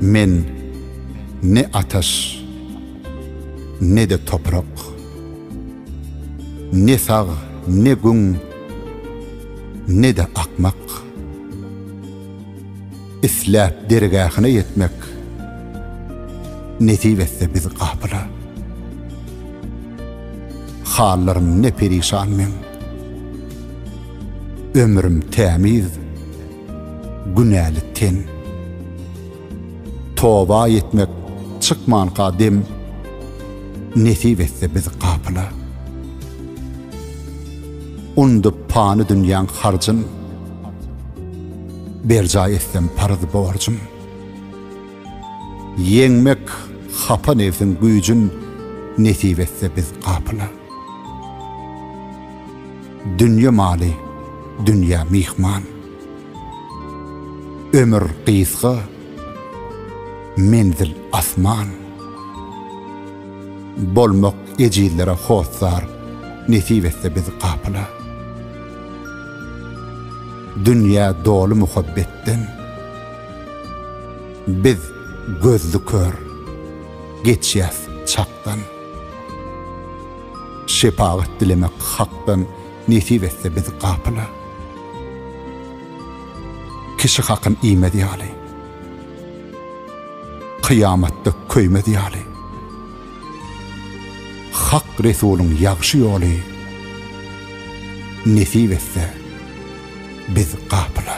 Men ne ataş, ne-de toprak, ne sag, ne gün, ne-de akmak. Isläp dergähine ýetmek Nesip etse biz gapyla. Hallarym ne perişan meň. Ömrüm tämiz, günäli ten. Toba etmek çykmanka dem, Nesip etse biz gapyla. Undyp pany dünýäň harjyn, Berjaý etsem paraz borjum. Ýeňmek hapa nebsiň güýjün Nesip etse biz gapyla. Dünýe maly dünýä myhman. Ömür gysga, menzil asman. Bolmak ejizlere hossar Nesip etse biz gapyla. Dünýä doly muhabbetden. Biz gözli kör, geçýäs çakdan. Şepagat dilemek Hakdan nesip etse biz gapyla. Kişi hakyn iýmez ýaly. Kyýamatda köýmez ýaly. Hak Resulyň ýagşy ýoly Nesip etse biz gapyla.